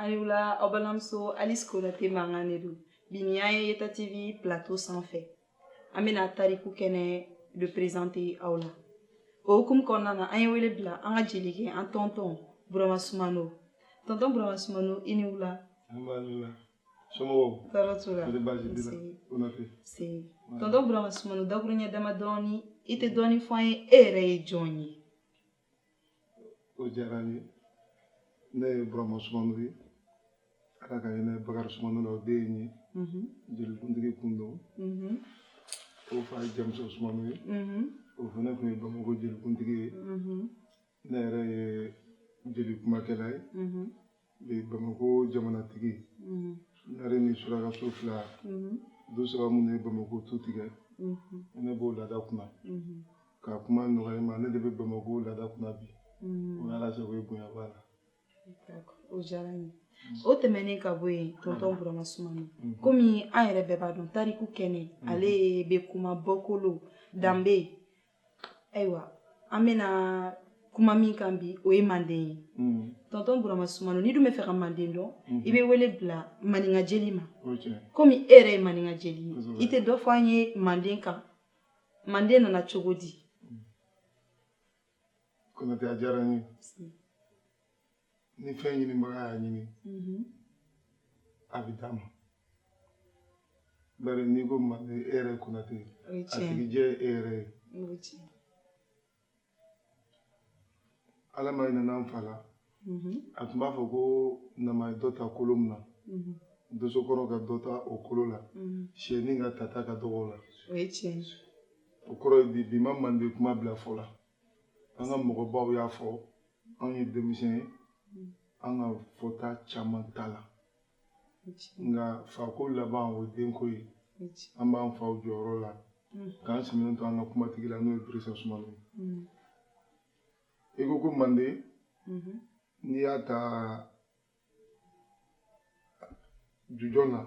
aw ni wula aw balimamuso alice konate mankan de don bi nin y'an ye yeta tv plateau sanfɛ an bɛna tariku kɛnɛ de prezante aw la o hukumu kɔnɔna na an ye wele bila an ka jelikɛ an tɔntɔn burama sumano tɔntɔn burama sumano i ni wula somɔgɔw tɔɔrɔ t'u la tɛ baasi t'i la o na fɛ tɔntɔn burama sumano dakuruɲɛ dama dɔɔni i tɛ dɔɔni fɔ an ye e yɛrɛ ye jɔn ye o diyara n ye ne ye burama sumano ye ala ka hinɛ bakari sumano la o den ye mhm. jelikuntigi kun don mhm. o fa ye jamusa sumano ye mhm. o fana tun ye bamakɔ jelikuntigi ye ne yɛrɛ ye jeli kumakɛla ye bamakɔ jamanatigi ɲare ni surakaso fila du saba minnu ye bamakɔ tu tigɛ ne b'o laada kunna ka kuma nɔgɔya ma ne de bɛ bamakɔ laada kunna bi ala sago ye bonya b'a la o diyara n ye o tɛmɛnen ka bɔ yen tɔntɔn burama sumano komi an yɛrɛ bɛɛ b'a dɔn tariku kɛnɛ ale bɛ kuma bɔkolo danbe ayiwa an bɛna kuma min kan bi o ye manden ye mm. tɔntɔn burama sumano n'i dun bɛ fɛ ka manden dɔn mm-hmm. i bɛ wele bila maninka jeli ma komi e yɛrɛ ye maninka jeli ye i tɛ dɔ fɔ an ye manden kan manden nana cogo di mm. konate a diyara n ye ni fɛn ɲinibaga y'a ɲini mm-hmm. a bɛ d'a ma bari n'i ko manden e yɛrɛ konate a tigi ye e yɛrɛ ye ala ma hinɛn'an fa la mm-hmm. a tun b'a fɔ ko nama ye dɔ ta kolo min na mm-hmm. dosokɔrɔ ka dɔ ta o kolo la siyɛni ka tata ka dɔgɔ o la o kɔrɔ ye di bi ma manden kuma bila fɔ la An ka mɔgɔbaw y'a fɔ anw ye denmisɛn ye an ka fɔta caman t'a la nka fako laban ye denko ye an b'an faw jɔyɔrɔ la mm. k'an sɛmɛnen to an ka kumatigi la n'o ye dirisa sumano ye mm. i ko ko manden mm-hmm. n'i y'a ta Jujɔn na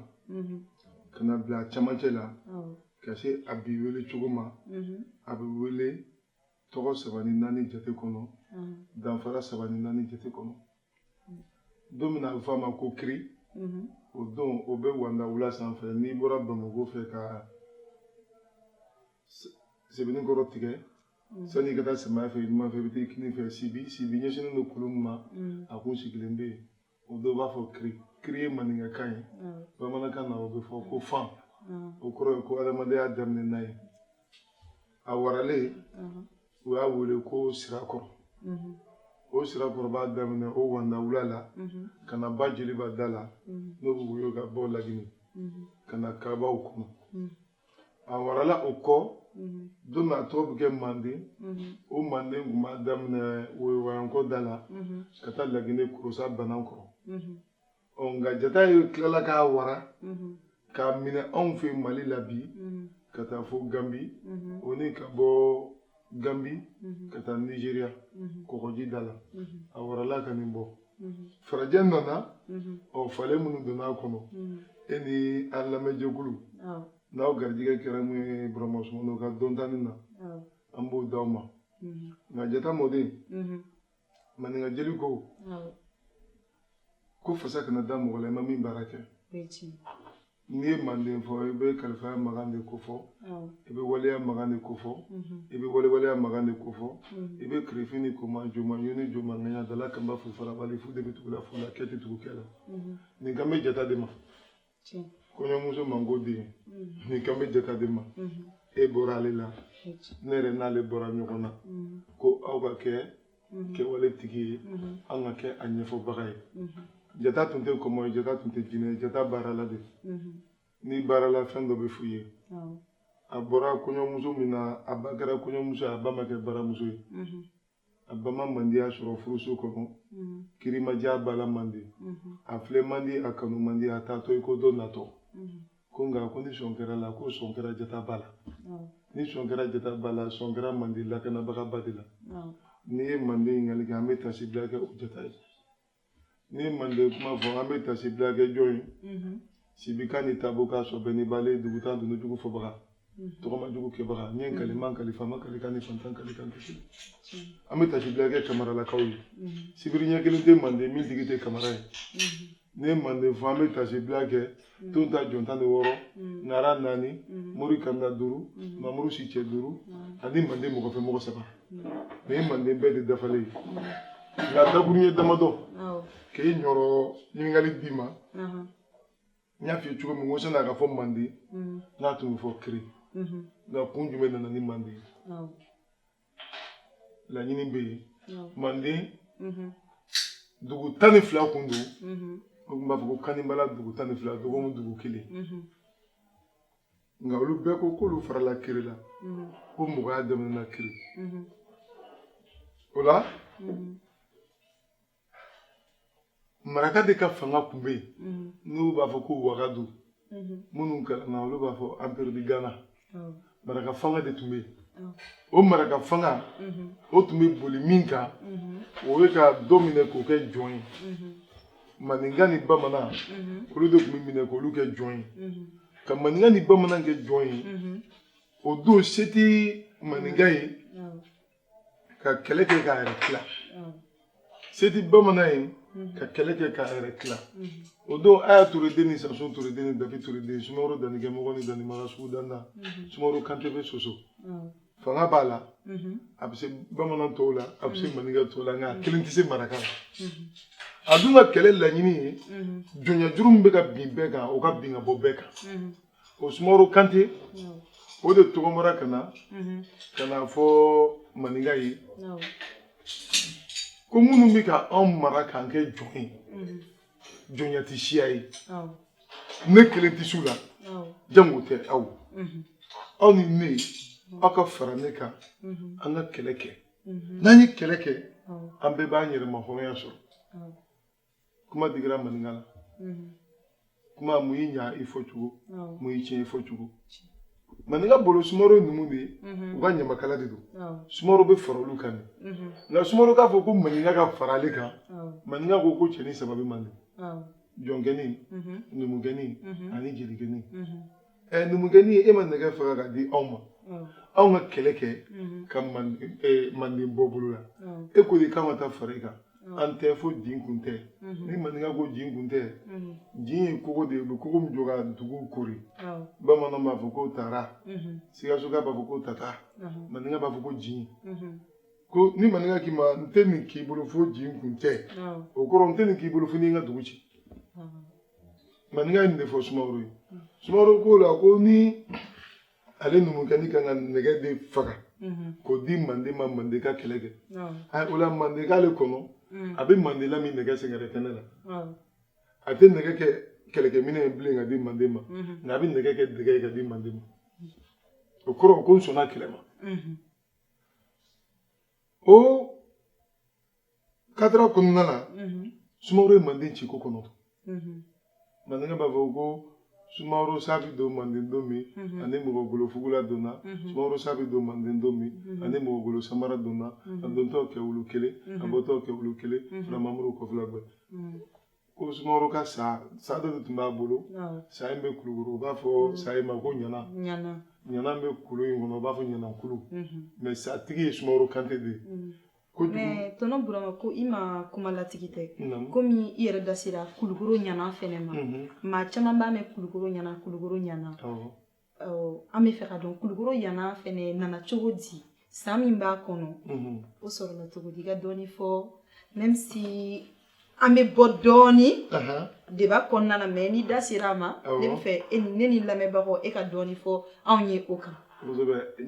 ka na bila camancɛ la ka se a bi wele cogo ma a bɛ wele tɔgɔ saba ni naani jate kɔnɔ danfara saba ni naani jate kɔnɔ don min a bɛ f'a ma ko kiri o don o bɛ wanda wula sanfɛ n'i bɔra bamakɔ fɛ ka sebenikɔrɔ tigɛ sani ka taa samaya fɛ numan fɛ i bɛ taa kini fɛ sibi sibi ɲɛsinnen don kulu min ma a kun sigilen bɛ yen o dɔw b'a fɔ kiri kiri ye maninkakan ye bamanankan na o bɛ fɔ ko fan o kɔrɔ ye ko adamadenya daminɛ n'a ye a waralen u y'a wele ko sirakɔrɔ o sirakɔrɔ b'a daminɛ o wanda wula la ka na ba jeliba da la n'o bɛ woyo ka bɔ lagini ka na kabaw kɔnɔ a warala o kɔ don min a tɔgɔ bɛ kɛ manden o manden tun b'a daminɛ woyowayankɔ da la ka taa lagine kurusa banankɔrɔ ɔ nka jata ye tilala k'a wara k'a minɛ anw fɛ mali la bi ka taa fo ganbi o ni ka bɔ Gambie mhm. ka taa Nigeria mhm. kɔgɔji da la mhm. a warala ka nin bɔ farajɛ nana ɔ falen minnu donna a kɔnɔ e ni an lamɛnjɛkulu n'aw garijɛgɛ kɛra min ye burama sumano ka dɔntanin na an b'o d'aw ma nka jata mɔden maninka jeli ko ko fasa kana da mɔgɔ la i ma min baara kɛ n'i ye manden fɔ i bɛ kalifaya makan de ko fɔ i bɛ waleya makan de ko fɔ i bɛ walewaleya makan de ko fɔ i bɛ kirifin ni koma joma yoni joma ŋaɲa dala kanba fu farabali fu de bɛ tugu la fu la kɛ tɛ tugu kɛ la nin kan bɛ jata de ma kɔɲɔmuso man ko den mm-hmm. nin kan bɛ jata de ma mm-hmm. e bɔra ale la ne yɛrɛ n'ale bɔra ɲɔgɔn na mm-hmm. ko aw ka kɛ kɛwale tigi ye an ka kɛ a ɲɛfɔbaga ye jata tun tɛ kɔmɔ ye jata tun tɛ jinɛ ye jata baarala de n'i baarala fɛn dɔ bɛ f'u ye a bɔra kɔɲɔmuso min na a ba kɛra kɔɲɔmuso ye a ba ma kɛ baramuso ye a ba ma mandiya sɔrɔ furuso kɔnɔ mm-hmm. kirimaja b'a la manden mm-hmm. a filɛ man di a kanu man di a taatɔ i ko dɔ natɔ mm-hmm. ko nka ko ni sɔn kɛr'a la ko sɔn kɛra jata ba la oh. ni sɔn kɛra jata ba la sɔn kɛra manden lakanabaga ba de la oh. n'i ye manden ɲininkali kɛ an bɛ taasibila kɛ o jata ye n'i ye manden kuma fɔ an bɛ taasibila kɛ jɔn ye mhm. sibika ni tabonka sɔbɛ ni bale dugutan dunun jugu fɔbaga mhm. tagama jugu kɛbaga n ye mhm. n kali n ma n kali faama kalikan ni fantan kalikan kasi an bɛ taasibila kɛ kamaralakaw ye sibiri ɲɛ kelen tɛ manden min tigi tɛ kamara ye n'i ye manden fɔ an bɛ taasibila kɛ mm. ton ta jɔn tan ni wɔɔrɔ mm. ŋara naani mm. mori kanda duuru mamuru si cɛ duuru ani manden mɔgɔ fɛ mɔgɔ saba nin ye manden bɛɛ de dafalen ye nka dakurun ye damadɔ k'e ɲɔrɔ ɲininkali d'i ma uh-huh. n y'a f'i ye cogo min ko sani a ka fɔ manden n'a tun bɛ fɔ kiri nka kun jumɛn nana ni manden ye laɲini bɛ yen manden dugu tan ni fila kun don o tun b'a fɔ ko kanibala dugu tan ni fila dɔgɔkun dugu kelen nka olu bɛɛ ko k'olu farala kiri la ko mɔgɔya daminɛna kiri o la maraka de ka fanga tun bɛ yen mhm. n'u b'a fɔ ko wagadu mhm. minnu kalanna olu b'a fɔ empire de ghana maraka fanga de tun bɛ yen o maraka fanga mhm. o tun bɛ boli min kan o ye ka dɔ minɛ k'o kɛ jɔn ye maninka ni bamanan olu de tun bɛ minɛ k'olu kɛ jɔn ye ka maninka ni bamanan kɛ jɔn ye o don se tɛ maninka ye ka kɛlɛ kɛ k'a yɛrɛ tila se tɛ bamanan ye ka kɛlɛ kɛ k'a yɛrɛ tila o don aya ture den ni sansun ture den ni dabi ture den sumaworo danni kɛmɔgɔ ni danni maga sugu danna sumaworo kante bɛ soso fanga b'a la a bɛ se bamanan tɔw la a bɛ se maninka tɔw la nka a kelen tɛ se maraka la a dun ka kɛlɛ laɲini ye jɔnyajuru min bɛ ka bin bɛɛ kan o ka bin ka bɔ bɛɛ kan o sumaworo kante o de tɔgɔmara ka na ka n'a fɔ maninka ye ko minnu bɛ ka anw mara k'an kɛ jɔn ye jɔnya tɛ siya ye ne kelen tɛ s'u la jango tɛ aw aw ni ne aw ka fara ne kan an ka kɛlɛ kɛ n'an ye kɛlɛ kɛ an bɛɛ b'an yɛrɛmahɔrɔnya sɔrɔ kuma digira maninka la mhm. kuma mun y'i ɲa i fɔcogo mun y'i tiɲɛ i fɔcogo maninka bolo sumaworo ye numu de ye mhm. u ka ɲamakala de don sumaworo bɛ fara olu kan de mhm. nka sumaworo k'a fɔ ko maninka ka fara ale kan maninka ko ko cɛnin saba bɛ manden jɔnkɛni numukɛni ani jelikɛni ɛ numukɛni e ma nɛgɛ faga ka di anw ma anw ka kɛlɛ kɛ ka manden bɔ bolo la e ko de k'an ka taa fara i kan an tɛ fo jin kun tɛ ni maninka ko jin kun tɛ jin ye kogo de ye u bɛ kogo min jɔ ka duguw koori bamananw b'a fɔ ko tara sikasoka b'a fɔ ko tata maninka b'a fɔ ko jin ko ni maninka k'i ma n tɛ nin k'i bolo fo jin kun tɛ o kɔrɔ n tɛ nin k'i bolo fo n'i ka dugu ci maninka ye nin de fɔ sumaworo ye sumaworo k'o la ko ni ale numukɛni kan ka nɛgɛ de faga mhm. k'o di manden ma manden ka kɛlɛ kɛ o la manden k'ale kɔnɔ mm. a bɛ manden lamin nɛgɛ sɛgɛrɛ kɛnɛ la a tɛ nɛgɛ kɛ kɛlɛkɛminɛn ye bilen ka di manden ma mhm. nka a bɛ nɛgɛ kɛ dɛgɛ ye ka di manden ma o kɔrɔ ko n sɔnna kɛlɛ ma mhm. o kadira kɔnɔna na sumaworo ye manden ci ko kɔnɔntɔn maninka b'a fɔ ko sumaworo sa bɛ don manden don min ani mɔgɔgolo fugula donna sumaworo sa bɛ don manden don min ani mɔgɔgolo samara donna a dontɔ kɛ wulu kelen a bɔtɔ kɛ wulu kelen filamamuru kɔfila bɛɛ ko sumaworo ka sa sa dɔ de tun b'a bolo sa in bɛ kulukoro u b'a fɔ sa in ma ko ɲana ɲana bɛ kulu in kɔnɔ u b'a fɔ ɲanakulu mɛ sa tigi ye sumaworo kante de ye mɛ tɔnɔ burama ko i ma kuma latigɛ tɛ komi i yɛrɛ da sera kulukoro ɲana fɛnɛ ma mhm. maa caman b'a mɛn kulukoro ɲana kulukoro ɲana an b'a fɛ k'a dɔn kulukoro ɲana fɛnɛ nana cogo di sa min b'a kɔnɔ mhm. o sɔrɔla cogo di i ka dɔɔni fɔ même si an bɛ bɔ dɔɔnin deba kɔnɔna na mɛ n'i da sera a ma ne b'a fɛ e ne ni lamɛnbagaw e ka dɔɔnin fɔ anw ye o kan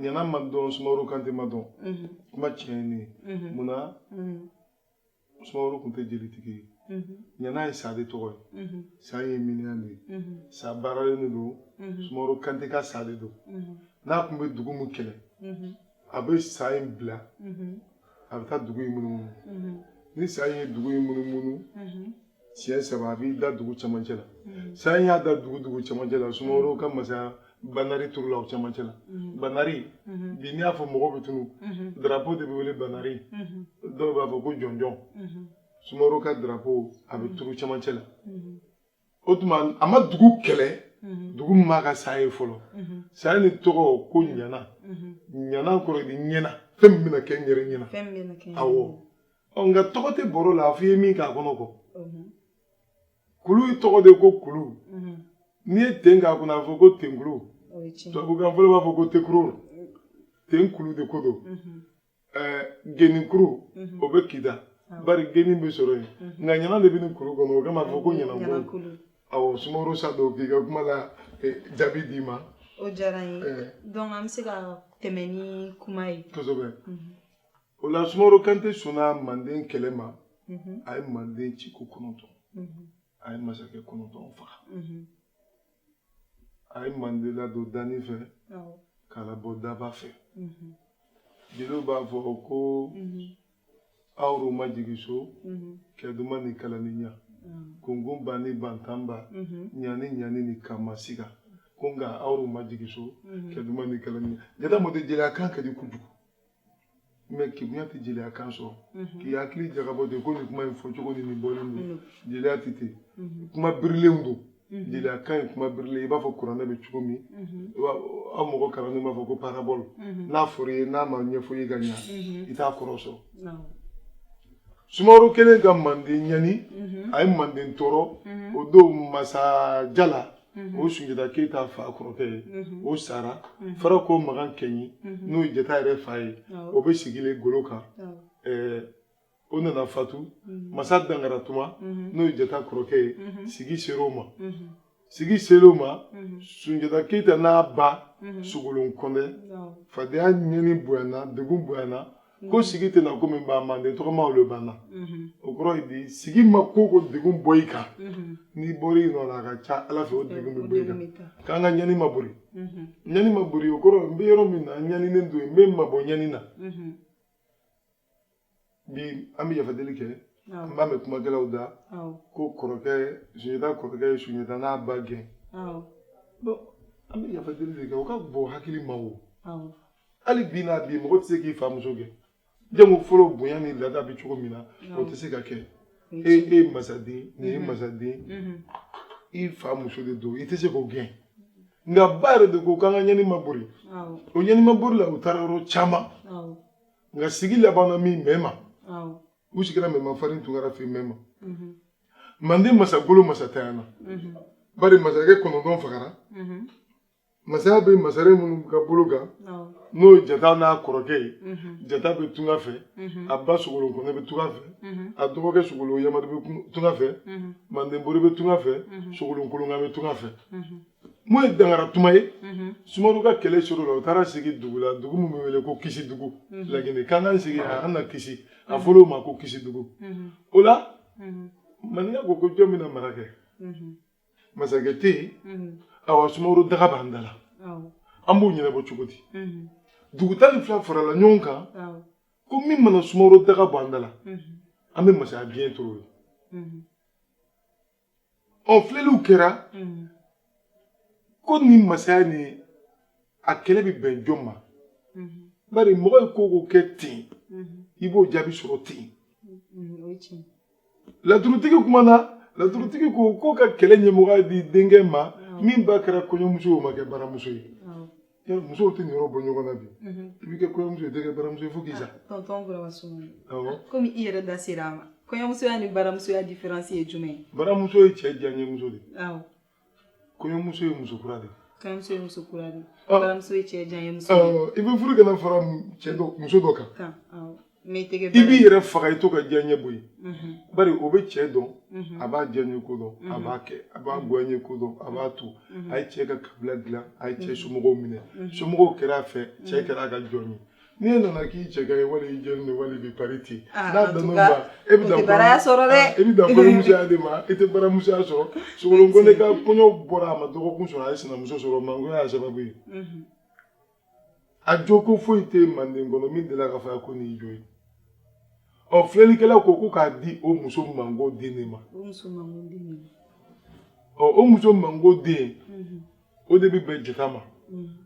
ɲana ma dɔn sumaworo kante ma dɔn kuma tiɲɛnen munna sumaworo tun tɛ jelitigi ye ɲana ye sa de tɔgɔ ye sa ye miniyan de ye sa baaralen de don sumaworo kante ka sa de don n'a tun bɛ dugu min kɛlɛ a bɛ sa in bila a bɛ taa dugu in munumunu ni sa in ye dugu in munumunu siɲɛ saba a b'i da dugu cɛmancɛ la sa in y'a da dugu dugu cɛmancɛ la sumaworo ka masaya banari turula o cɛmancɛ la banari bi n'i y'a fɔ mɔgɔw bɛ tunun darapo de bɛ wele banari dɔw b'a fɔ ko jɔnjɔn sumaworo ka darapo a bɛ turu cɛmancɛ la o tuma a ma dugu kɛlɛ mhm. dugu min m'a ka sa ye fɔlɔ mhm. sa nin tɔgɔ ko ɲana mhm. ɲana kɔrɔ de ɲɛna fɛn min bɛna kɛ n yɛrɛ ɲɛna awɔ nka tɔgɔ tɛ bɔrɔ la a fɔ i ye min k'a kɔnɔ kɔ kulu tɔgɔ de ko kulu n'i ye ten k'a kɔnɔ a fɔ ko tenkulu tubabukan fɔlɔ b'a fɔ ko tekuru ten kulu de ko don ɛɛ geni kuru o bɛ kita bari geni bɛ sɔrɔ yen nka ɲana de bɛ nin kuru kɔnɔ o kama a fɔ ko ɲanankulu awɔ sumaworo sa don k'i ka kuma la jaabi d'i ma o diyara n ye donc an bɛ se ka tɛmɛ ni kuma ye kosɛbɛ o la sumaworo kante sɔnna manden kɛlɛ ma a ye manden ci ko kɔnɔntɔn a ye masakɛ kɔnɔntɔn faga mhm. a ye manden ladon danin fɛ k'a labɔ daba fɛ mhm. jeliw b'a fɔ ko mhm. awro ma jigi so kɛduma ni kalaniya kukunba ni bantanba ɲani ɲani ni kamasiga ko nka awro ma jigi so kɛduma ni kalaniya jata mɔte jeliya kan ka di kojugu mɛ kegunya tɛ jeliya kan sɔrɔ mhm. k'i hakili jagabɔ ten ko nin kuma in fɔcogo ni nin bɔlen don mhm. jeliya tɛ ten mhm. kuma birilenw don jeliya kan ye kuma birilen i b'a fɔ kuranɛ bɛ cogo min aw mɔgɔ kalannen b'a fɔ ko parabɔl n'a fɔra i ye n'a ma ɲɛfɔ i ye ka ɲa i t'a kɔrɔ sɔrɔ sumaworo kɛlen ka manden ɲani a ye manden tɔɔrɔ o don masa jala o sunjata keyita fa kɔrɔkɛ ye o sara farako makan kɛɲi n'o ye jata yɛrɛ fa ye o bɛ sigilen golo kan o nana fatu masa dankaratuma n'o ye jata kɔrɔkɛ ye sigi ser'o ma sigi ser'o ma sunjata keyita n'a ba sogolon kɔnɛ fadenya ɲɛni bonyana degun bonyana ko mhm. sigi tɛna ko min ban manden tɔgɔma olu banna mhm. o kɔrɔ ye di sigi ma ko o ko degun bɔ i kan mhm. n'i bɔra i nɔ la a ka ca ala fɛ o degun bɛ bɔ i kan k'an ka ɲani ma bori ɲani ma bori o kɔrɔ n bɛ yɔrɔ min na n ɲaninen don n bɛ n mabɔ ɲani na bi an bɛ yafa deli kɛ an b'a mɛn kumakɛlaw da ko kɔrɔkɛ sunjata kɔrɔkɛ ye sunjata n'a ba gɛn an bɛ yafa deli de kɛ o ka bon hakili ma o. hali bi n'a bi mɔgɔ tɛ se k'i famuso gɛn jango fɔlɔ bonya ni lada bɛ cogo min na o tɛ se ka kɛ e e ye masaden nin ye mhm. masaden mhm. i fa muso de don i tɛ se k'o gɛn nka ba yɛrɛ de ko k'an ka ɲɛni ma bori o ɲɛni ma bori la u taara yɔrɔ caman nka sigi labanna min mɛma u sigira mɛma farin tunkara fɛ mɛma mhm. manden masagolo masantanyana bari masakɛ kɔnɔntɔn fagara Masaya bɛ masaren minnu ka bolo kan n'o ye jata n'a kɔrɔkɛ ye jata bɛ tunga fɛ a ba sogolon kɔnɛ bɛ tunga fɛ a dɔgɔkɛ sogolon yama bɛ tunga fɛ manden bori bɛ tunga fɛ sogolon kolonkan bɛ tunga fɛ min ye dankaratuma ye sumaworo ka kɛlɛ ser'o la u taara sigi dugu la dugu min bɛ wele ko kisidugu laginɛ k'an k'an sigi yan an ka kisi a fɔra o ma ko kisidugu o la maninka ko jɔn bɛna mara kɛ masakɛ tɛ yen mhm. awa sumaworo daga b'an da la an b'o ɲɛnabɔ cogo di mhm. dugu tan ni fila farala ɲɔgɔn kan ko min mana sumaworo daga bɔ an da la mhm. an bɛ masaya biɲɛ tur'o ye ɔ filɛliw kɛra ko nin masaya ni a kɛlɛ bɛ bɛn jɔn ma bari mɔgɔ ye ko o ko kɛ ten i b'o jaabi sɔrɔ ten laturutigi kumana laturutigi ko ko ka kɛlɛ ɲɛmɔgɔya di denkɛ ma min ba kɛra kɔɲɔmuso ye o ma kɛ baramuso ye musow tɛ nin yɔrɔ bɔ ɲɔgɔn na bi i bɛ kɛ kɔɲɔmuso ye i tɛ kɛ baramuso ye fo k'i sa tɔntɔn burama sumano komi i yɛrɛ da sera a ma kɔɲɔmusoya ni baramusoya diferansi ye jumɛn ye baramuso ye cɛ diyaɲɛmuso de ye kɔɲɔmuso ye muso kura de ye kɔɲɔmuso ye muso kura de ye ah. baramuso ye cɛ diyaɲɛmuso ah, i bɛ furu ka na fara muso dɔ kan i b'i yɛrɛ faga i t'o ka diyaɲɛ bɔ yen mhm. bari o bɛ cɛ dɔn mhm. a b'a diyaɲɛ ko dɔn a mhm. b'a kɛ a b'a goyaɲɛ ko dɔn a b'a to a ye cɛ ka kabila dilan a ye cɛ somɔgɔw minɛ somɔgɔw kɛra a fɛ cɛ kɛra a ka jɔn ye n'i e nana k'i cɛ ka ɲi wali i jɛlen don wali i bɛ pari ten ah, n'a dan'o ma e bɛ dan baraya sɔrɔ dɛ ah, e bɛ dan kɔɲɔmusoya de ma e tɛ baramusoya sɔrɔ sogolon kɔnɛ ka kɔɲɔ bɔra a ma dɔgɔkun sɔrɔ a ye sinamuso sɔrɔ mangoya y'a sababu ye mhm. a jo ko foyi tɛ manden kɔnɔ min delila ka fɔ a ko nin y'i jo ye ɔ filɛlikɛlaw ko ko k'a di o muso mango den de ma o muso mango den de ma ɔ o muso mango den mhm. o de bɛ bɛn jata ma mhm.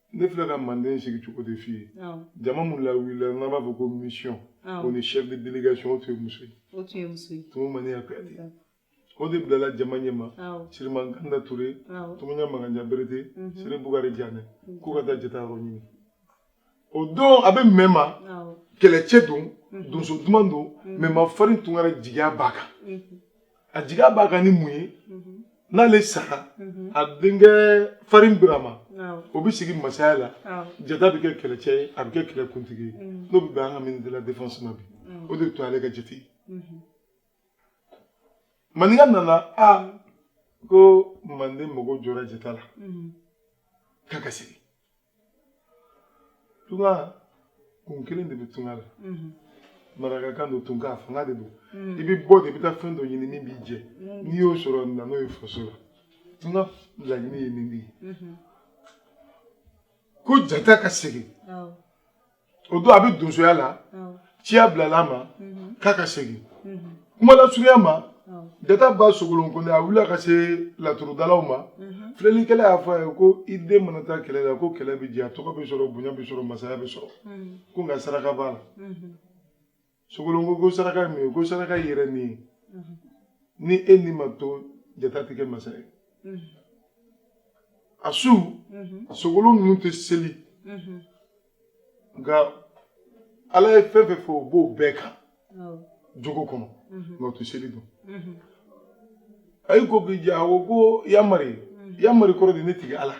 ne filɛ ka manden sigi cogo de f'i ye jama min lawulila n'an b'a fɔ ko mission o ni chef de délégation o tun ye muso ye o tun ye muso ye tumu maniya kuyate o de bilala jama ɲɛma siriman kanda ture tumuɲa maganja berete mhm. siri bugari janɛ mhm. k'u ka taa jata yɔrɔ ɲini o don a bɛ mɛma kɛlɛcɛ don mhm. donso duman don mɛma farin tunkara jigiya b'a kan a jigiya b'a kan ni mun ye n'ale sara a denkɛ farin birama o bɛ sigi masaya la jata bɛ kɛ kɛlɛcɛ ye a bɛ kɛ kɛlɛkuntigi ye n'o bɛ bɛn an ka ministre de la défense ma bi o de tun y'ale ka jate ye maninka nana ko manden mago jɔra jata la k'a ka segin tunga kun kelen de bɛ tunga la mhm. marakakan don tunga fanga de don mhm. i bɛ bɔ de i bɛ taa fɛn dɔ ɲini min b'i jɛ mhm. n'i y'o sɔrɔ na n'o ye faso la tunga laɲini ye nin de ye ko jata ka segin o don a bɛ donsoya la ciya bilala a ma mhm. k'a ka segin mhm. kuma lasurunya ma jata ba sogolon kɔnɛ a wulila ka se laturudalaw ma mhm. filɛlikɛla y'a fɔ a ye ko i den mana taa kɛlɛ la ko kɛlɛ bɛ diya tɔgɔ bɛ sɔrɔ bonya bɛ sɔrɔ masaya bɛ sɔrɔ ko nka saraka b'a la sogolon ko ko saraka ye mun ye ko saraka y'i yɛrɛ ni ye ni e ni ma to jata tɛ kɛ masa ye a su sogolon ninnu tɛ seli nka ala ye fɛn fɛn fɔ o b'o bɛɛ ka jogo kɔnɔ nka o tɛ seli dɔn a y'i ko k'i jɛ a ko ko yamari yamari kɔrɔ de ne tigi ala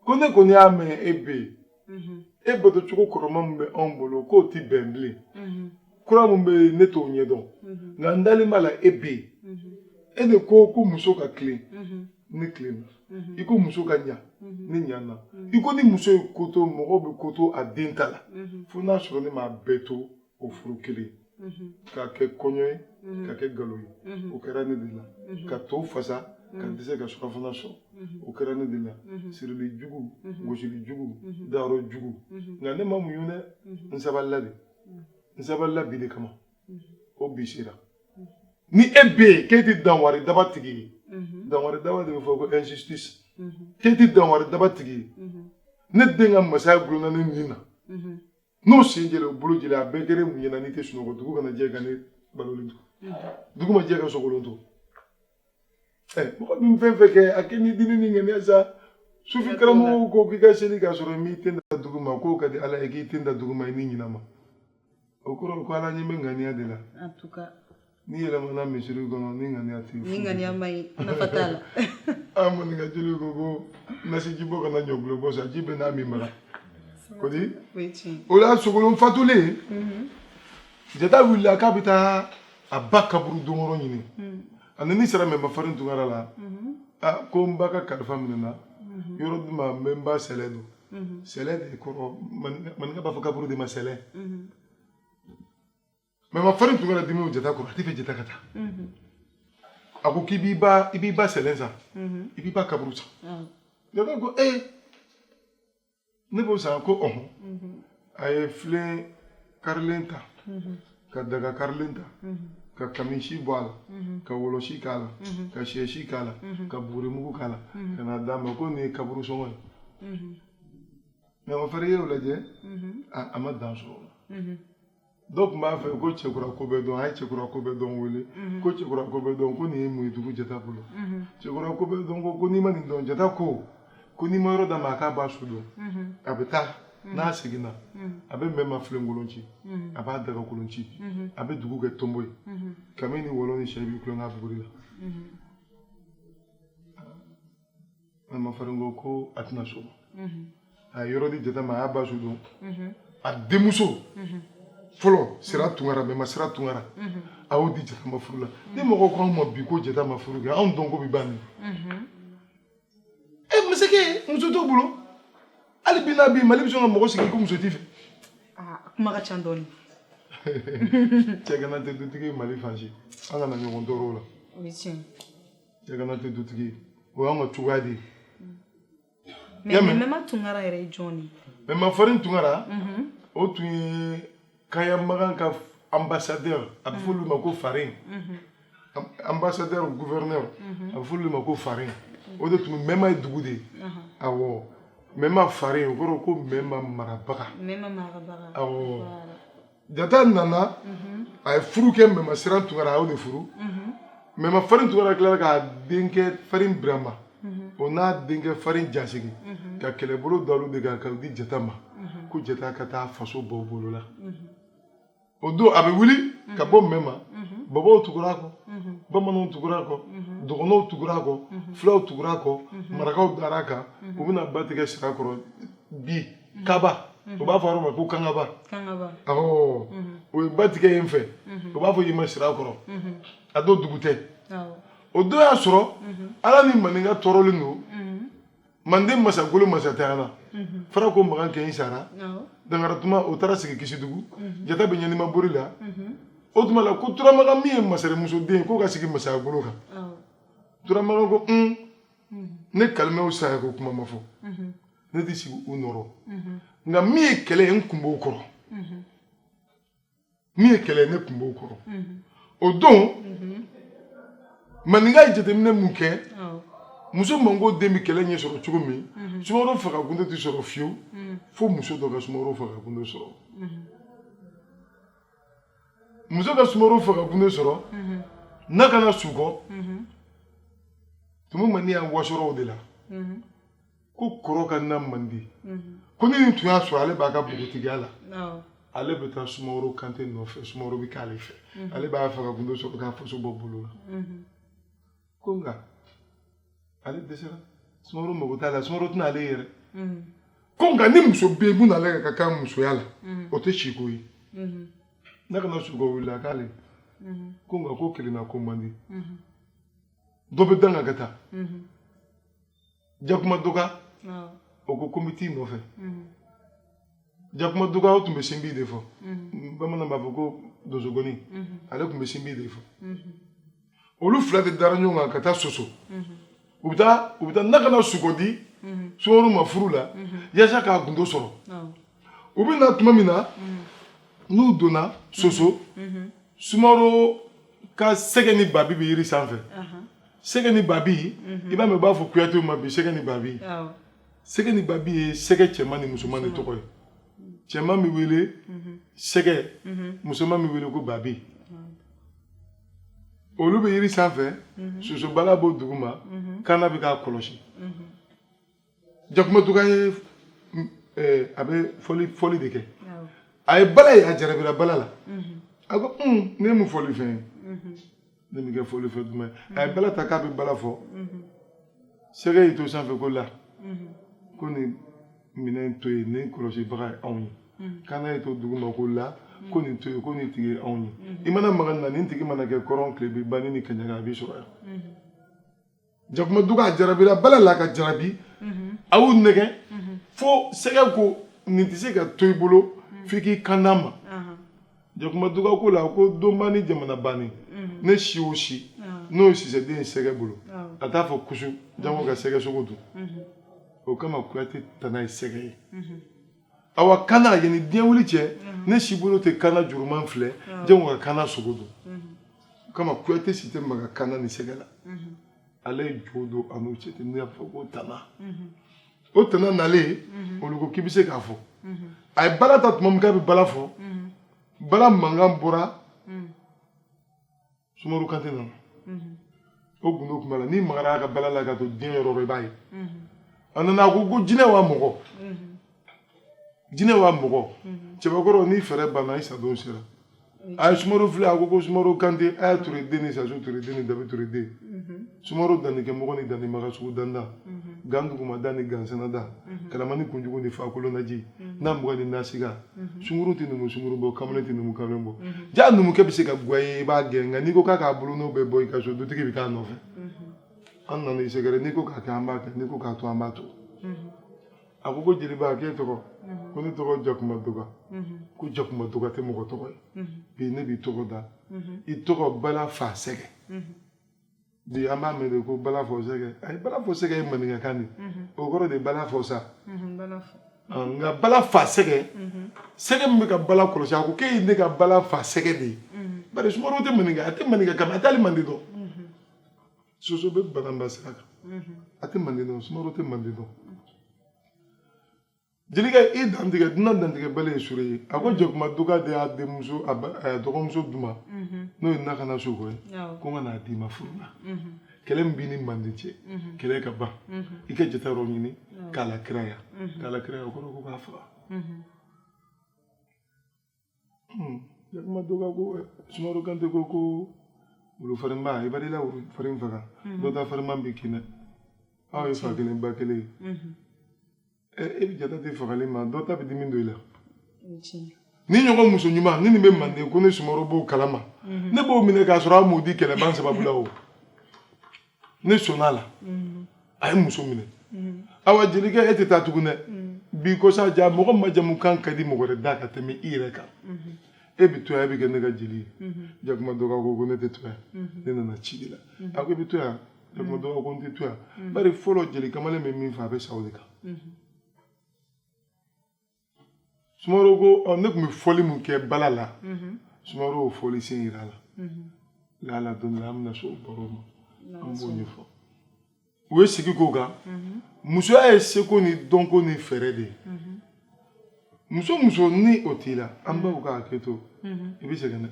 ko ne kɔni y'a mɛn e bɛ yen mhm. e batocogo kɔrɔma min bɛ anw bolo k'o tɛ bɛn bilen mhm. kura min bɛ yen ne t'o ɲɛdɔn mhm. nka n dalen b'a la e bɛ yen e de ko ko muso ka tilen ne tilenna i ko muso ka ɲa ne ɲana i ko ni muso ye ko to mɔgɔw bɛ ko to a den ta la fo n'a sɔrɔ ne m'a bɛɛ to o furu kelen k'a kɛ kɔɲɔ ye ka kɛ galo ye o kɛra ne de la ka to fasa ka dɛsɛ ka surafana sɔrɔ o kɛra ne de la sirili jugu gosili jugu dayɔrɔ jugu nka ne ma muɲu dɛ n sabalila de n sabalila bi de kama o bi sera ni e bɛ yen k'e tɛ danwari daba tigi ye danwari daba de bɛ fɔ ko injustice k'e tɛ danwari daba tigi ye ne den ka masaya gulonna ne nin na n'o sen jɛra o bolo jɛra a bɛɛ kɛra mun ɲɛna n'i tɛ sunɔgɔ dugu kana jɛ ka ne balolen to dugu ma jɛ ka sogolon to ɛ mɔgɔ min fɛn fɛn kɛ a kɛ ni diinɛ ni ŋaniya sa sufi karamɔgɔw ko k'i ka seli k'a sɔrɔ i m'i ten da dugu ma k'o ka di ala ye k'i ten da dugu ma i ni ɲinama o kɔrɔ ko ala ɲɛ bɛ ŋaniya de la N'i yɛlɛmana misiri kɔnɔ ni ŋaniya t'i bolo. Ni ŋaniya ma ɲi nafa t'a la. An maninka jeliw ko ko nasiji bɔ kana ɲɔgulɔ bɔ sa ji bɛ n'a min bara. Ko di? O ye tiɲɛ. O la Sogolon fatulen. Mhm. Jata wulila k'a bɛ taa a ba kaburu donyɔrɔ ɲini. Mhm. A nani sera mɛma farin tunkara la. Mhm. A ko n ba ka kalifa minɛna. Yɔrɔ di n ma n bɛ n ba sɛlɛ don. Sɛlɛ de kɔrɔ maninka b'a fɔ kaburu de ma sɛlɛ. mɛma farin tunkara dimi jata kɔrɔ a t'a fɛ jata ka taa mhm. a ko k'i b'i ba i b'i ba sɛlɛ san mhm. i b'i ba kaburu san ah. jata ko ee eh, ne b'o san ko ɔhɔn mhm. a ye filen karilen ta ka daga karilen ta ka kamisi bɔ a la ka wɔlɔsi k'a la ka sɛsi k'a la ka bugurimugu k'a la ka na d'a ma ko nin ye kaburu sɔngɔ ye mɛma farin ye o lajɛ a ma dan sɔrɔ o la dɔ tun b'a fɛ ko cɛkura ko bɛɛ dɔn a ye cɛkura ko bɛɛ dɔn wele mhm. ko cɛkura ko bɛɛ dɔn ko nin ye mun ye dugu jata bolo mhm. cɛkura ko bɛɛ dɔn ko ko n'i ma nin dɔn jata ko ko n'i ma yɔrɔ d'a ma a k'a ba su don mhm. a bɛ taa n'a seginna a bɛ mɛma filenkolon ci a b'a dagakolon ci a bɛ dugu kɛ tonbo ye kami ni wɔlɔ ni sɛ b'i tulon n'a buguri la mɛma farin ko ko a tɛna so a ye yɔrɔ di jata ma a y'a ba su don a denmuso fɔlɔ sira tunkara mɛma sira tunkara a y'o di jata ma furu la ni mɔgɔw ko anw ma bi ko jata ma furu kɛ anw dɔn ko bi ban nin e masakɛ muso t'o bolo hali bi n'a bi mali bɛ sɔn ka mɔgɔ sigi ko muso t'i fɛ kuma ka ca dɔɔni cɛgana tɛ dutigi ye mali fan si an kana ɲɔgɔn tɔɔrɔ o la o ye tiɲɛ cɛgana tɛ dutigi ye o y'an ka cogoya de ye mɛ mɛma tunkara yɛrɛ ye jɔn de ye mɛma farin tunkara mhm. o tun ye kaya magan ka ambassadeur a bɛ f'olu ma ko farin mhm. ambassadeur gouverneur mhm. a bɛ f'olu ma ko farin o de tun mɛma ye dugu de ye awɔ mɛma farin o kɔrɔ ko mɛma marabaga awɔ jata nana a ye furu kɛ mɛma siran tunkara a y'o de furu mɛma farin tunkara tilara k'a denkɛ farin birama o n'a denkɛ farin jasigi ka kɛlɛbolo da olu de kan ka di jata ma ko jata ka taa faso bɔ o bolo la o don a bɛ wuli ka bɔ mɛma bɔbɔw tugura a kɔ bamananw tugura a kɔ dɔgɔnɔw tugura a kɔ fulaw tugura a kɔ marakaw dar'a kan u bɛna ba tigɛ sirakɔrɔ bi mhm. kaba u b'a fɔ yɔrɔ ma ko kangaba awɔ o ye ba tigɛ yen fɛ u b'a fɔ yen ma sirakɔrɔ a dɔ dugu tɛ o don y'a sɔrɔ ala ni maninka tɔɔrɔlen don manden masagolo masantanya la farako makan kɛɲi sara dankaratuma o taara sigi kisidugu jata bɛ ɲanima bori la o tuma la ko turamakan min ye masarimuso den k'o ka sigi masayagolo kan turamakan ko un ne kalimɛw saya ko kuma ma fɔ ne tɛ sigi u nɔrɔ nka min ye kɛlɛ ye n kun b'o kɔrɔ min ye kɛlɛ ye ne kun b'o kɔrɔ o don maninka ye jateminɛ mun kɛ muso mango den bɛ kɛlɛ ɲɛ sɔrɔ cogo min sumaworo faga gundo tɛ sɔrɔ fiyewu fo muso dɔ ka sumaworo faga gundo sɔrɔ muso ka sumaworo faga gundo sɔrɔ nakana sukɔ tumu maniyan wasor'o de la ko kɔrɔ ka na man di ko ni nin tun y'a sɔrɔ ale b'a ka npogotigiya la ale bɛ taa sumaworo kante nɔfɛ sumaworo bɛ k'ale fɛ ale b'a faga gundo sɔrɔ k'a faso bɔ bolo la ko nka ale dɛsɛra sumaworo mago t'a la sumaworo tɛna ale yɛrɛ ko nka ni muso bɛ yen mun n'ale ka kan musoya la o tɛ siko ye nakana sukɔ wulila k'ale ko nka ko kelenna ko man di dɔ bɛ da n kan ka taa jakuma duga o ko ko n bɛ t'i nɔfɛ jakuma duga o tun bɛ sinbi de fɔ bamanan b'a fɔ ko donsonkɔni ale tun bɛ sinbi de fɔ olu fila de dara ɲɔgɔn kan ka taa soso u bɛ taa u bɛ taa nakana sukɔ di sumaworo ma furu la yaasa k'a gundo sɔrɔ u bɛ na tuma min na n'u donna soso sumaworo ka sɛgɛ ni babi bɛ yiri sanfɛ sɛgɛ ni babi i b'a mɛn u b'a fɔ kuyatew ma bi sɛgɛ ni babi sɛgɛ ni babi ye sɛgɛ cɛman ni musoman de tɔgɔ ye cɛman bɛ wele sɛgɛ musoman bɛ wele ko babi olu bɛ yiri sanfɛ sosobala b'o duguma kana bɛ k'a kɔlɔsi jakuma duga ye a bɛ fɔli de kɛ a ye bala ye a jarabira bala la a ko ne ye mun fɔli fɛn ye ne bɛ kɛ fɔli fɛn duman a ye bala ta k'a bɛ bala fɔ sɛgɛ y'i to sanfɛ ko la ko nin minɛn to yen nin kɔlɔsibaga ye anw ye kana y'i to duguma ko la ko nin to yen ko nin tigi ye anw ye i mana maga na nin tigi mana kɛ kɔrɔn tilebin ba ni kaɲaga a b'i sɔrɔ yan jakuma duga a jarabira bala la ka jarabi a y'u nɛgɛn fo sɛgɛ ko nin tɛ se ka to i bolo f'i k'i kan d'an ma jakuma duga ko la ko donba ni jamana banni ne si o si n'o ye sisɛden ye sɛgɛ bolo a t'a fɔ kusu jango ka sɛgɛ sogo dun o kama kuyate tana ye sɛgɛ ye awa kana yani diɲɛ wuli cɛ mhm. ne sibolo tɛ kana juguman filɛ jango ka kana sogo dun mhm. o kama kuyate si tɛ maga kana ni sɛgɛ la mhm. ale ye jo don a n'u cɛ ten ne y'a fɔ ko tana o tana nalen olu ko k'i bɛ se k'a fɔ a ye bala ta tuma min k'a bɛ bala fɔ bala mankan bɔra sumaworo kante nana o gundo tun b'a la n'i magara a ka bala la ka to diɲɛ yɔrɔ o yɔrɔ i b'a ye a nana a ko ko jinɛ wa mɔgɔ jinɛ wa mɔgɔ cɛbakɔrɔ n'i fɛɛrɛ banna i sadon sera a ye sumaworo filɛ a ko ko sumaworo kante a ye tureden ni sasu tureden ni dabi tureden sumaro dannikɛmɔgɔ ni dannimaga sugu danda mhm. gan dugumada ni gansɛnɛda mhm. kalama ni kunjugu ni fakolonaji mhm. n'a mugan ni nasiga sunguru tɛ numu sunguru bɔ kamalen tɛ numu kamalen bɔ jaa numukɛ bɛ se ka goya i ye i b'a gɛn nka n'i ko k'a k'a bolonɔ bɛɛ bɔ i ka so dutigi bɛ k'a nɔfɛ an nana i sɛgɛrɛ n'i ko k'a kɛ an b'a kɛ n'i ko k'a to an b'a to a ko ko jeliba k'e tɔgɔ ko ne tɔgɔ jakuma doga ko jakuma doga tɛ mɔgɔ tɔgɔ ye bi ne b'i tɔgɔ da i tɔgɔ bala fa sɛgɛ bi an b'a mɛn de ko bala fɔ sɛgɛ ayi bala fɔ sɛgɛ ye maninkakan de mhm. o kɔrɔ de bala fɔ sa mhm, ah, nka bala fa sɛgɛ mhm. sɛgɛ min bɛ ka bala kɔlɔsi a ko k'e ye ne ka bala fa sɛgɛ de ye bari sumaworo tɛ maninka a tɛ maninkakan mɛn a t'ali mande dɔn soso bɛ bananba sira kan a tɛ mande dɔn sumaworo tɛ mande dɔn jelikɛ i dantigɛ dunan dantigɛbali ye sure ye a ko jakuma doka de y'a denmuso a dɔgɔmuso di n ma n'o ye nakana suko ye ko n ka n'a d'i ma furu la kɛlɛ min b'i ni manden cɛ kɛlɛ ka ban i ka jata yɔrɔ ɲini k'a lakiraya k'a lakiraya o kɔrɔ ko k'a faga Hmm. jakuma doka ko sumaworo kante ko ko wulu farinba i ba i la wulu farin faga hmm. dɔ ta farinba b'i kin dɛ aw ye fa kelen ba kelen ye hmm. eh, e bɛ jata tɛ fagali ma dɔ ta bɛ dimi don i la nin ɲɔgɔn muso ɲuman ni nin bɛ manden ko ne sumaworo b'o kalama ne b'o minɛ k'a sɔrɔ a m'o di kɛlɛban sababu la o ne sɔnna a la mm-hmm. a ye muso minɛ mm-hmm. awa jelikɛ e tɛ taa tugun dɛ mm-hmm. bi kɔ sa ja mɔgɔ majamu kan ka di mɔgɔ wɛrɛ da ka tɛmɛ i yɛrɛ kan e bɛ to yan e bɛ kɛ ne ka jeli ye jakuma doga ko ko ne tɛ to yan ne nana ci de la a ko e bɛ to yan jakuma doga ko n tɛ to yan bari fɔlɔ jeli kamalen bɛ min fɔ a bɛ sa o de kan sumaworo ko ne tun bɛ fɔli min kɛ bala la sumaworo y'o fɔli sen yira a la lala don min na an bɛna se o baro ma an b'o ɲɛfɔ u ye sigi k'o kan musoya ye seko ni dɔnko ni fɛɛrɛ de ye muso muso ni o t'i la an baw ka hakɛ to i bɛ sɛgɛn dɛ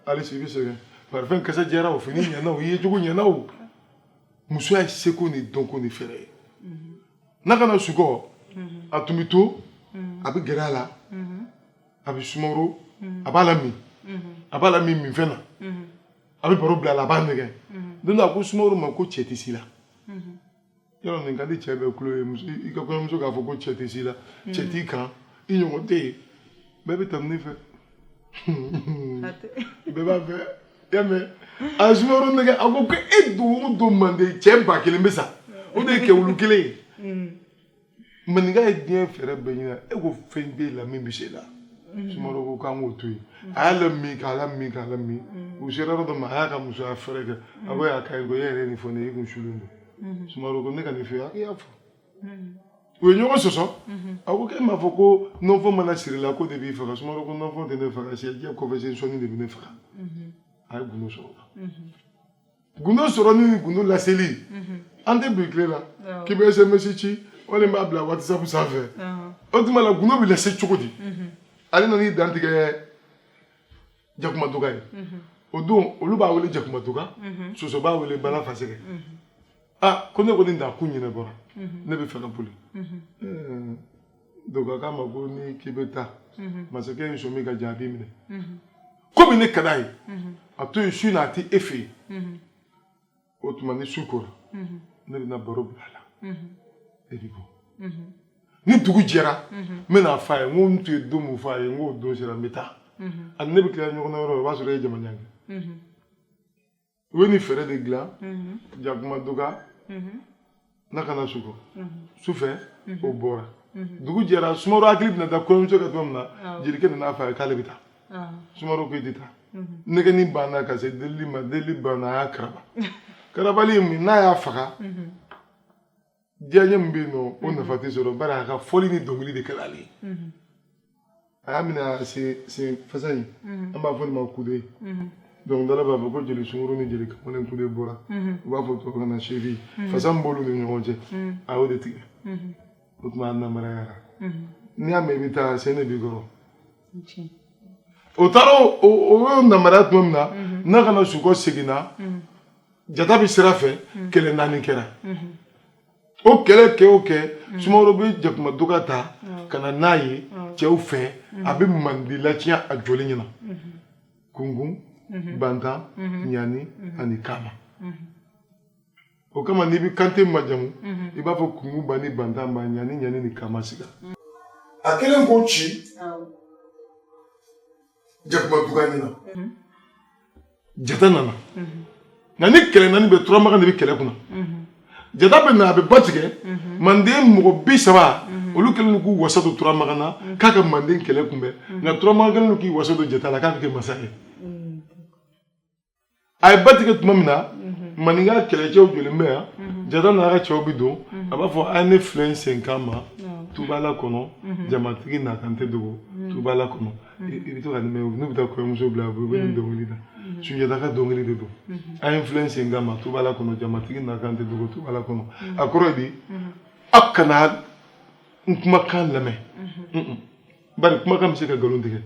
halisa i bɛ sɛgɛn parifɛn kasa jɛra o fini ɲɛna o i yecogo ɲɛna o musoya ye seko ni dɔnko ni fɛɛrɛ ye mhm. nakana sukɔ mhm. a tun bɛ to mhm. a bɛ gɛrɛ a la a bɛ sumaworo a b'a lamin a b'a lamin minfɛn na a bɛ baro bila a la a b'a nɛgɛn don dɔ a ko sumaworo ma ko cɛ t'i si la yɔrɔ nin ka di cɛ bɛɛ kulu ye i ka kɔɲɔmuso k'a fɔ ko cɛ t'i si la mm. cɛ t'i kan i ɲɔgɔn tɛ yen bɛɛ bɛ tanuni fɛ bɛɛ b'a fɛ i y'a mɛn a ye sumaworo nɛgɛn a ko ko e don o don manden cɛ ba kelen bɛ sa o de ye kɛ wulu kelen ye mm. maninka ye diɲɛ fɛɛrɛ bɛɛ ɲini e ko fɛn b'e la min bɛ se i la mhm. sumaworo ko k'an k'o to yen mhm. a y'a lamin k'a lamin k'a lamin mhm. u sera yɔrɔ dɔ ma a y'a ka musoya fɛɛrɛ kɛ a ko y'a ka ɲi ko e yɛrɛ ye nin fɔ ne ye i tun sulen don sumaworo ko ne ka nin fɔ a k'i y'a fɔ u ye ɲɔgɔn sɔsɔ a ko k'e m'a fɔ ko nɔnfɔ mana siri i la k'o de b'i faga sumaworo ko nɔnfɔ tɛ ne faga siyɛ jɛ kɔfɛ sen sɔnin de bɛ ne faga a ye gundo sɔrɔ o la gundo sɔrɔ ni gundo laseli an tɛ bi tile la k'i bɛ sms ci walima i b'a bila whatsapp sanfɛ o tuma la gundo bɛ lase cogo di ale nana i dantigɛ jakuma doga ye o don olu b'a wele jakuma doga soso b'a wele bala fasɛgɛ aa ko ne kɔni nakun ɲɛnabɔra ne bɛ fɛ ka boli doga k'a ma ko n'i k'i bɛ taa mhm. masakɛ ye sɔmi ka jaabi minɛ mhm. komi ne ka d'a ye mhm. a to yen su na a tɛ e fɛ yen o tuma ni su kora ne bɛna baro bila a la e bɛ bɔ ni dugu jɛra n bɛna a fɔ a ye n ko n tun ye don min fɔ a ye n k'o don sera n bɛ taa ani ne bɛ tila ɲɔgɔn na yɔrɔ o b'a sɔrɔ e ye jama ɲangi u ye nin fɛɛrɛ de dilan jakuma doga nakana sukɔ su fɛ o bɔra dugu jɛra sumaworo hakili bɛna taa kɔɲɔmuso kan tuma min na jelikɛ nan'a fɔ a ye k'ale bɛ taa sumaworo ko i tɛ taa nɛgɛni banna ka se delili ma delili banna a y'a karaba karabali min n'a y'a faga diyaɲɛ min bɛ yen nɔ o nafa tɛ sɔrɔ bari a ka fɔli ni dɔnkili de kɛra ale ye a y'a minɛ a sen sen fasa in an b'a fɔ nin ma kude dɔnkilidala b'a fɔ ko jeli sunguru ni jeli kamalen kude bɔra u b'a fɔ tubabukan na cheville fasa min b'olu ni ɲɔgɔn cɛ a y'o de tigɛ o tuma a namarayara n'i y'a mɛn i bɛ taa sen de b'i kɔrɔ o taara o y'o namaraya tuma min na nakana suko seginna jata bɛ sira fɛ mm. kɛlɛ naani kɛra mm-hmm. o kɛlɛ kɛ o kɛ mm. sumaworo bɛ jakuma duga ta mm. ka na n'a ye cɛw fɛ a bɛ manden latiɲɛ a jɔlen ɲɛ na mm-hmm. kungun mm-hmm. bantan ɲani ani kama o kama n'i bɛ kante majamu i b'a fɔ kungunba ni bantanba ɲaniɲani ni kamasiga a kɛlen k'o ci jakuma duga ɲɛ na mhm. jata nana mhm. nka nin kɛlɛ naani bɛɛ turamakan de bɛ kɛlɛ kunna mhm. jata bɛ na a bɛ ba tigɛ manden mɔgɔ bi saba olu kɛlen don k'u wasa don turamakan na k'a ka manden kɛlɛ kunbɛn nka turamakan kɛlen don k'i wasa don jata la k'a bɛ kɛ masa ye a ye ba tigɛ tuma min na maninka kɛlɛcɛw jɔlen bɛ yan jata n'a ka cɛw bɛ don a b'a fɔ a ye ne filɛ n senkan ma tubala kɔnɔ jamatigi n'a kan tɛ dogo tubala kɔnɔ i bɛ to ka nin mɛn n'u bɛ taa kɔɲɔmuso bila u bɛ nin dɔnkili da sunjata ka dɔnkili de don a ye n filɛ n senkan ma tubala kɔnɔ jamatigi n'a kan tɛ dogo tubala kɔnɔ a kɔrɔ di aw kana n kumakan lamɛn bari kumakan bɛ se ka nkalon tigɛ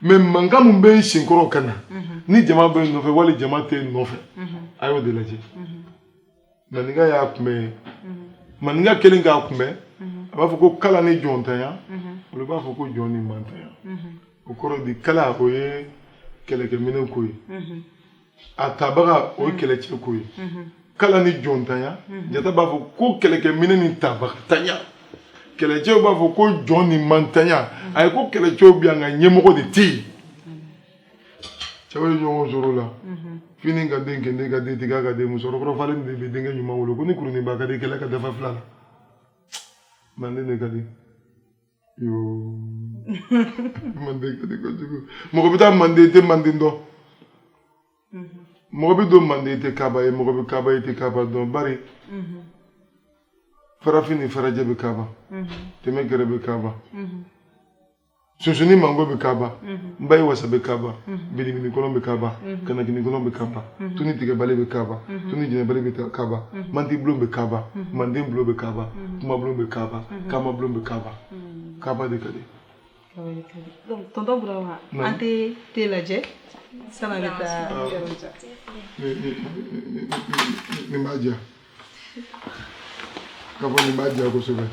mais mankan min bɛ n sen kɔrɔ ka na ni jama bɛ n nɔfɛ wali jama tɛ n nɔfɛ a y'o de lajɛ maninka y'a kunbɛn maninka kɛlen k'a kunbɛn a b'a fɔ ko kala ni jɔntanya olu b'a fɔ ko jɔn ni mantanya o kɔrɔ di kala o ye kɛlɛkɛminɛn ko ye a tabaga o ye kɛlɛcɛ ko ye kala ni jɔntanya jata b'a fɔ ko kɛlɛkɛminɛ ni tabagatanya kɛlɛcɛw b'a fɔ ko jɔn ni mantanya a ye ko kɛlɛcɛw bɛ yan nka ɲɛmɔgɔ de tɛ yen cɛw ye ɲɔgɔn sɔrɔ la fini ka den kende ka den tiga ka den musokɔrɔba falen de bɛ denkɛ ɲuman wolo ko ni kurunin ba ka di kɛlɛ ka dafa fila la manden de ka di manden ka di kojugu mɔgɔ bɛ taa manden i tɛ manden dɔn mɔgɔ bɛ don manden i tɛ kaba ye mɔgɔ bɛ kaba i tɛ kaba dɔn bari farafin ni farajɛ bɛ kaba tɛmɛ gɛrɛ bɛ kaba sunsunni mango bɛ kaba nba ye wasa bɛ kaba bilibili kɔnɔ bɛ kaba kanakini kɔnɔ bɛ kaba tuni tigɛbali bɛ kaba tuni jɛnɛbali bɛ kaba manden bulon bɛ kaba manden bulon bɛ kaba kuma bulon bɛ kaba Mhm. kamabulon bɛ kaba mhm. kaba de ka di tɔntɔn burama an tɛ te lajɛ san'a bɛ taa nin b'a diya k'a fɔ nin b'a diya kosɛbɛ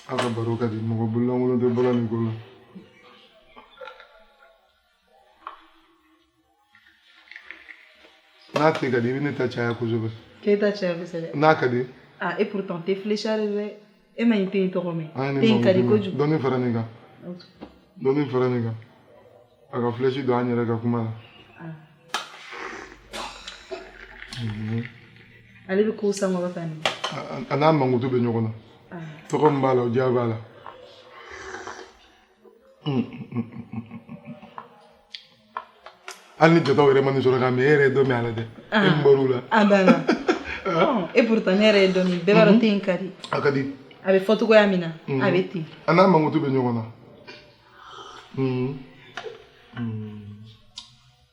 a ka baro ka di mɔgɔ bololankolon tɛ bɔla nin ko la n'a te ka di i bɛ ne ta caya kosɛbɛ k'e ta caya kosɛbɛ n'a ka di ah et pourtant te flécha dɛ e ma nin te in tɔgɔ mɛn te in ka di kojugu dɔɔni fara nin kan dɔɔni fara nin kan a ka flèche don an yɛrɛ ka kuma la ale bɛ kow sankɔrɔta nin a n'a mankutu bɛ ɲɔgɔn na tɔgɔ min b'a la o diya b'a la hali ni jɔtaw yɛrɛ ma nin sɔrɔ k'a min e yɛrɛ ye dɔ min a la dɛ e min bɔr'u la a banna et pourtant ne yɛrɛ ye dɔ min bɛɛ b'a dɔn te in ka di a ka di a bɛ fɔ cogoya min na a bɛ ten a n'a mankutu bɛ ɲɔgɔn na